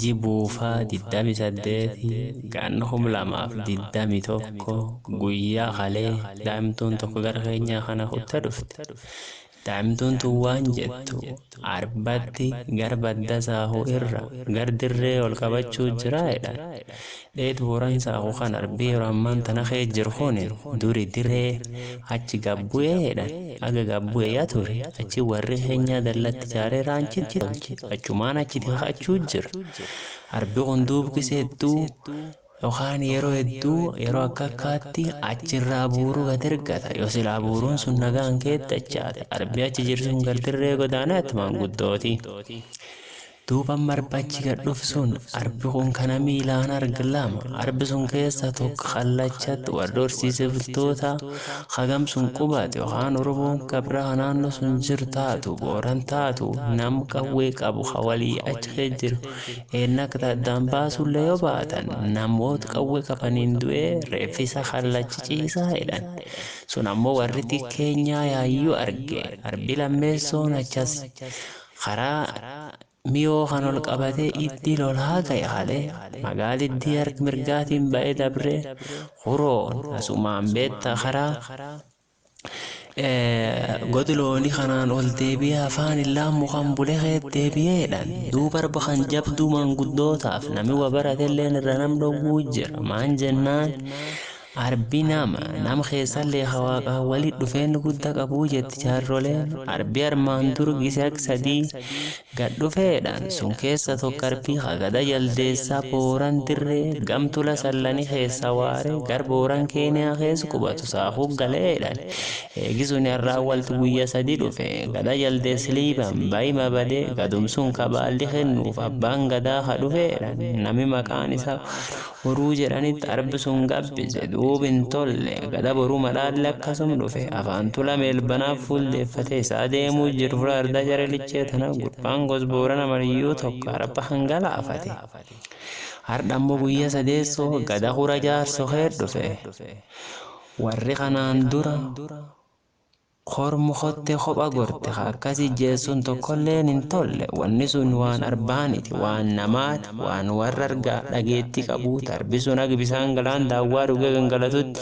Jibuufa 28 Gan 2021 Guyyaa kalee daa'imtuun tokko gara keenyaa kana kutte dhufte. Daa'imtuun tun waan jettu, Arbatti gar badda saahuu irra gar dirree ol qabachuu jira jedhan. Dheetu horan isaa ko kan arbee yero ammaan tana kee jiru kun duri diree achi gabbu'ee jedhan aga gabbu'e ya ture achi warri kenyaa dallatti jaaree raanchitti tolche achumaan achiti kakachuu jira arbi kun duubkisa hedduu yokaan yero hedduu yero akka akkaatti achi irraa buuru gad ergata yo silaa buuruun sun nagaan keet dachaate arbi achi jirsun gar dirree godaanatti maanguddooti Duuba marba achi gad d'ufe sun, arbi kun ka nami ilaani argu lama, arbi sun keesa toko kallachati worra horsiise bultoota, ka gama sun qubatu, yokhaani Oromooni gabra ha naanno suni jiru taatu, Boorana taatu, nama qawwe qabu ka wolii achi keesa jiru, eenna aka ta addaan baasule yo baatan, namoota qawwe qabaniini due, reefa isaa kallacha ch'iisa jed'ani. Suni ammo worri tika keenyaa yayu arge. Arbi lameesooni achasi. Karaa Miyoo kan ol qabatee iddii lolaa ka'e hale magaaliddii hark mirgaatiin ba'ee dabree Huroon asumaan beetta karaa God looni kanaan ol deebi'ee afaan illaan mukan bule keet deebi'ee jedhan duub arba kan jabduu maanguddootaaf nami wa baratelleen irra nam dhogguu jira maan jennaan Arbi nama, nam keessalle ka Waaqaan woli d'ufeenna gudda qabu jetti jaarroleen. Arbi armaan dura gisi haga sadi gad d'ufe jed'an. Sun keesa toko arbi ka gada jaldeesa Booran dirre gam tula Sallani keesa waare gara Booran Kenia keesa qubatu saafu gale jed'an. Eegi suni arraa wolti guyya sadi d'ufe. Gada jaldeesa Liiban Baima bade gadum sun ka baalli kennuufi abbaan gadaa ka d'ufe jed'an. Nami maqaani isaa Waado. Boruu jedhanitti arb sun gabbise duub hin tolle gada boruu madhaalle akkasum dhufe afaan tula meelbanaaf fuuldeeffate isaa deemuu jir fula ardaa jare lichee tana gurbaan gos boorana mariyyuu tokko arb kan galaafate hardha immoo guyya sadeesso gada kura jaarso kee dhufe warri kanaan dura Kormu kotte kopha gorte ka akkas ijjeessun tokkolleen hin tolle wanni sun waan arbaaniti waan namaati waan warra argaa dhageetti qabuu tarbi sun hag bisaan galaan daawwaa dhuge gangalatutti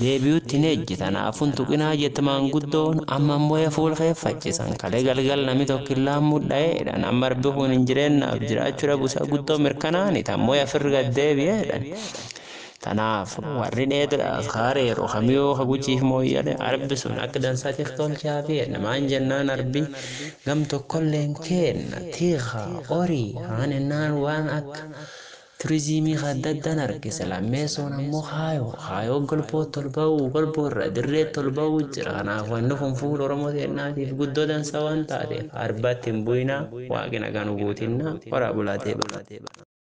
deebiyutti hin ejji tanaaf hin tuqinaa jett maanguddoon amma moya fuul kee faccisan kale galgal nami tokkillaan mudhaye jedhan amma arbi kun hin jireennaaf jiraachu dhabu isaa guddoo mirkanaani tan moya firr gad deebiye jedhan Tanaaf warri dheedra kaareeru kamiyuu ka gujiif mooyyale arbi sun akka dansatiif tolchaa fi enna maan jennaan arbi gam tokkolleen keenna tiika orii kaan ennaan waan akka turiziimii ka adda addan argisa lammeessoon ammoo kaayoo kaayoo golbootti ol ba'uu golboo irra dirreetti ol ba'uu jira kanaaf wanni kun fuula oromoo teennaatiif guddoo dansa waan taateef arbatti hin bu'inaa waaqi nagaa nu guutinnaa horaa bulaa deebanaa.